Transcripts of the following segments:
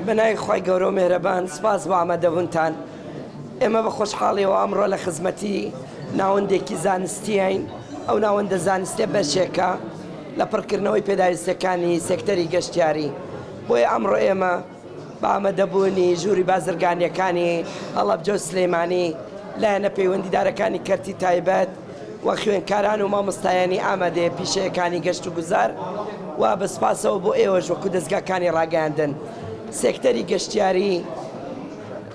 بە ناوی خوای گەورە و مێهرەبان سپاس بۆ ئامادەبوونتان. ئێمە بە خۆشحاڵیەوە ئەمڕۆ لە خزمەتی ناوەندێکی زانستیین، ئەو ناوەندە زانستیە بەشێکە لە پڕکردنەوەی پێداویستیەکانی سێکتەری گەشتیاری، بۆیە ئەمڕۆ ئێمە بە ئامادەبوونی ژووری بازرگانیەکانی هەڵەبجە و سلێمانی، لایەنە پەیوەندیدارەکانی کەرتی تایبەت، و خوێندکاران و مامۆستایانی ئامادەیە پیشەیەکانی گەشت و گوزار و بە سوپاسەوە بۆ ئێوەش وەکو دەزگاکانی ڕاگەیاندن سێکتەری گەشتیاری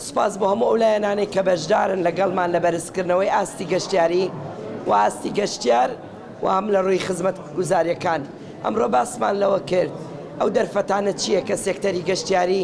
سوپاس بۆ هەموو ئەو لایەنانەی کە بەشدارن لەگەڵمان لە بەرزکردنەوەی ئاستی گەشتیاری و ئاستی گەشتیار و هەم لە ڕووی خزمەتگوزاریەکان ئەمڕۆ باسمان لەوە کرد ئەو دەرفەتانە چییە کە سێکتەری گەشتیاری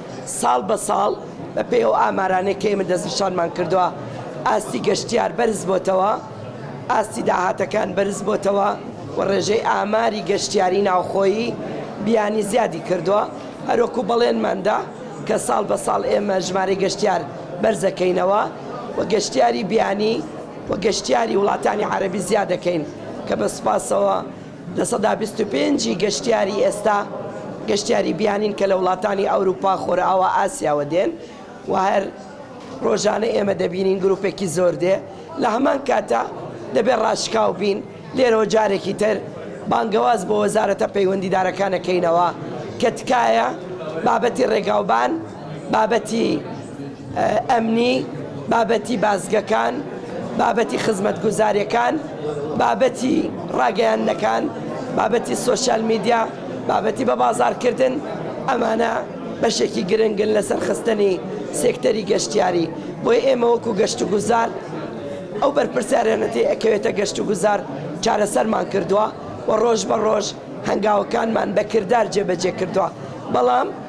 ساڵ بە ساڵ بە پێی ئەو ئامارانەی کە ئێمە دەستنیشانمان کردووە ئاستی گەشتیار بەرز بۆتەوە، ئاستی داهاتەکان بەرز بۆتەوە و ڕێژەی ئاماری گەشتیاری ناوخۆیی بیانی زیادی کردووە، هەروەکو بەڵێنمان دا کە ساڵ بە ساڵ ئێمە ژمارەی گەشتیار بەرزەکەینەوە و گەشتیاری بیانی و گەشتیاری وڵاتانی عەرەبی زیادەکەین کە بە سوپاسەوە لە سەدا بیست و پێنج ی گەشتیاری ئێستا گەشتیاری بیانین کە لە وڵاتانی ئەوروپا، خۆرئاوا، ئاسیاوە دێن و هەر رۆژانە ئێمە دەبینین گروپێکی زۆر دێ لە هەمان کاتا دەبێ راشکاو بین لێرەوە جارێکی تر بانگەواز بۆ وەزارەتە پەیوەندیدارەکان ئەکەینەوە کە تکایە بابەتی رێگاوبان بابەتی ئەمنی، بابەتی بازگەکان، بابەتی خزمەتگوزاریەکان، بابەتی ڕاگەیاندنەکان، بابەتی سۆشیال میدیا، بابەتی بەبازاڕکردن، ئەمانە بەشێکی گرنگن لە سەرخستنی سێکتەری گەشتیاری، بۆیە ئێمە وەکو گەشتوگوزار ئەو بەرپرسیارێنە تێ ئەکەوێتە گەشتوگوزار چارەسەرمان کردوە و ڕۆژ بە ڕۆژ هەنگاوەکانمان بە کردار جێبەجێ کردوە بەڵام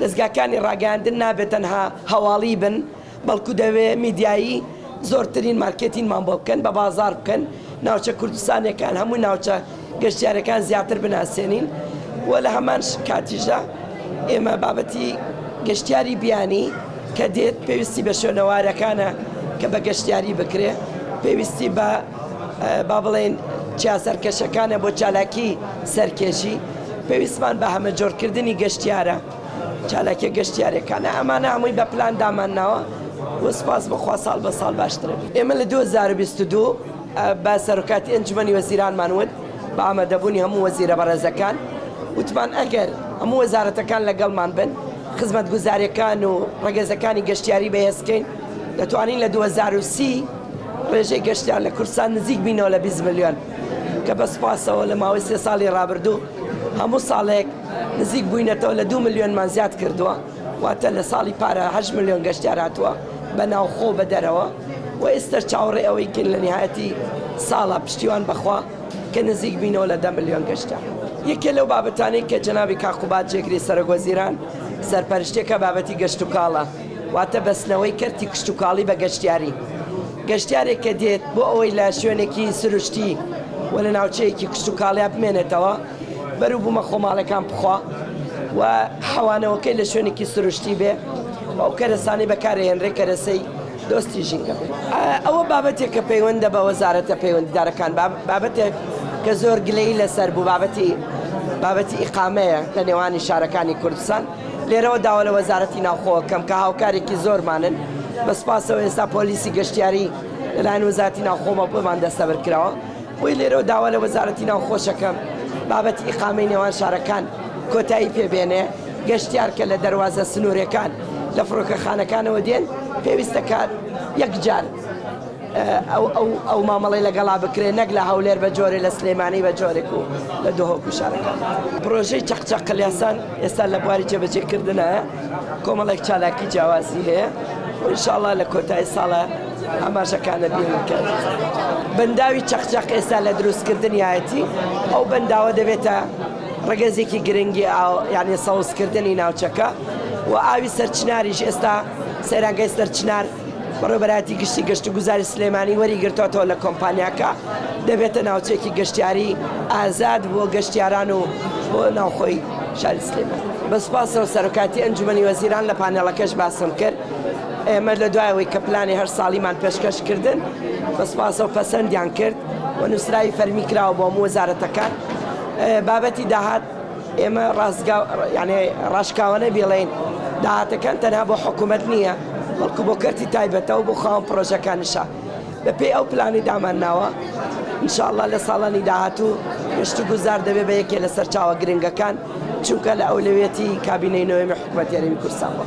دەزگاکانی ڕاگەیاندن نابێ تەنها هەواڵی بن، بەڵکو دەبێ میدیایی زۆرترین مارکێتینمان بۆ بکەن، بە بازاڕ بکەن، ناوچە کوردستانیەکان، هەموو ناوچە گەشتیاریەکان زیاتر بناسێنین و لە هەمان کاتیشدا ئێمە بابەتی گەشتیاری بیانی کە دێت پێویستی بە شوێنەوارەکانە کە بە گەشتیاری بکرێ، پێویستی بە. با بڵێین چیا سەرکەشەکانە بۆ چالاکی سەرکێشی، پێویستمان بە هەمەجۆرکردنی گەشتیارە، چالاکیە گەشتیارەکانە، ئەمانە هەمووی بە پلان دامان ناوە و سوپاس بۆ خوا ساڵ بە ساڵ باشتر ئەبێت. ئێمە لە دوو هەزار و بیست و دوو بە سەرۆکاتی ئەنجومەنی وەزیرانمان وت بە ئامادەبوونی هەموو وەزیرە بەڕێزەکان وتمان ئەگەر هەموو وەزارەتەکان لەگەڵمان بن خزمەتگوزاریەکان و ڕەگەزەکانی گەشتیاری بەهێزکەین دەتوانین لە دوو هەزار و سی ڕێژەی گەشتیان لە کوردستان نزیک بینەوە لە بیست ملیۆن کە بە سوپاسەوە لە ماوەی سێ ساڵی ڕابردوو هەموو ساڵێک نزیک بووینەتەوە لە دوو ملیۆنمان زیاد کردووە واتە لە ساڵی پارە هەشت ملیۆن گەشتیار هاتووە بە ناوخۆ و بە دەرەوە و ئێستەش چاوەڕێی ئەوەی کەین لە نیهایەتی ساڵە پشتیوان بەخوا کە نزیک بینەوە لە دە ملیۆن گەشتیار. یەکێ لەو بابەتانەی کە جەنابی کاک قوباد جێگری سەرۆک وەزیران سەرپەرشتییەکە بابەتی گەشتوکاڵە، واتە بەستنەوەی کەرتی کشتوکاڵی بە گەشتیاری، گەشتیارێک کە دێت بۆ ئەوەی لە شوێنێکی سروشتی و لە ناوچەیەکی کشتوکاڵیا بمێنێتەوە، بەروبوومە خۆماڵیەکان بخوا و حەوانەوەکەی لە شوێنێکی سروشتی بێ و ئەو کەرەسانەی بەکارەهێنرێ کەرەسەی دۆستی ژینگە بێ. ئەوە بابەتێکە پەیوەندە بە وەزارەتە پەیوەندیدارەکان، بابەتێک کە زۆر گلەیی لەسەر بوو، بابەتی ئیقامەیە لە نێوانی شارەکانی کوردستان. لێرەوە داوا لە وەزارەتی ناوخۆ ئەکەم کە هاوکارێکی زۆرمانن، بە سوپاسەوە ئێستا پۆلیسی گەشتیاری لەلایەن وەزارەتی ناوخۆوە بۆمان دەستەبەر کراوە، بۆیە لێرەوە داوا لە وەزارەتی ناوخۆش ئەکەم بابەتی ئیقامەی نێوان شارەکان کۆتایی پێ بێنێ، گەشتیار کە لە دەروازە سنوورێکان لە فڕۆکەخانەکانەوە دێن پێویستە کە یەکجار. ئەو مامەڵەی لەگەڵا بکرێت نەک لە هەولێر بە جۆرێ لە سلێمانی بە جۆرێک و لە دهۆک و شارەکان. پرۆژەی چەقچەق قلیاسان ئێستا لە بواری جێبەجێ کردنایە کۆمەڵێک چالاکی جیاوازی هەیە و ان شاء اللە لە کۆتایی ساڵە ئاماژەکانە بێنم کە بەنداوی چەقچەق ئێستا لە دروست کردنیایەتی ئەو بەنداوە دەبێتە ڕگەزێکی گرنگی ئاو یعنی سەوزکردنی ناوچەکە و ئاوی سەرچناریش ئێستا سەیرانگەی سەرچنار بەڕێوەبەرایەتی گشتی گەشتوگوزاری سلێمانی وەریگرتۆتەوە لە کۆمپانیاکە دەبێتە ناوچەیەکی گەشتیاری ئازاد بۆ گەشتیاران و بۆ ناوخۆی شاری سلێمانی. بە سوپاسەوە سەرۆکایەتی ئەنجومەنی وەزیران لە پانێڵەکەش باسم کرد ئێمە لە دوای ئەوەی کە پلانی هەر ساڵیمان پێشکەش کردن بە سوپاسەوە پەسەندیان کرد و نووسراوی فەرمی کراوە بۆ هەموو وەزارەتەکان بابەتی داهات ئێمە ڕاستگا یانێ ڕاشکاوانە بیڵێین داهاتەکان تەنها بۆ حکوومەت نییە بەڵکو بۆ کەرتی تایبەتەوە بۆ خاوەن پڕۆژەکانیشە بەپێی ئەو پلانی دامان ناوە انشاءله لە ساڵانی داهاتوو گەشتی گوزار دەبێت بە یەکێ لە سەرچاوە گرنگەکان چونکە لە ئەولەوێتی کابینەی نوێمی حکوومەتێنی کورسانەوە.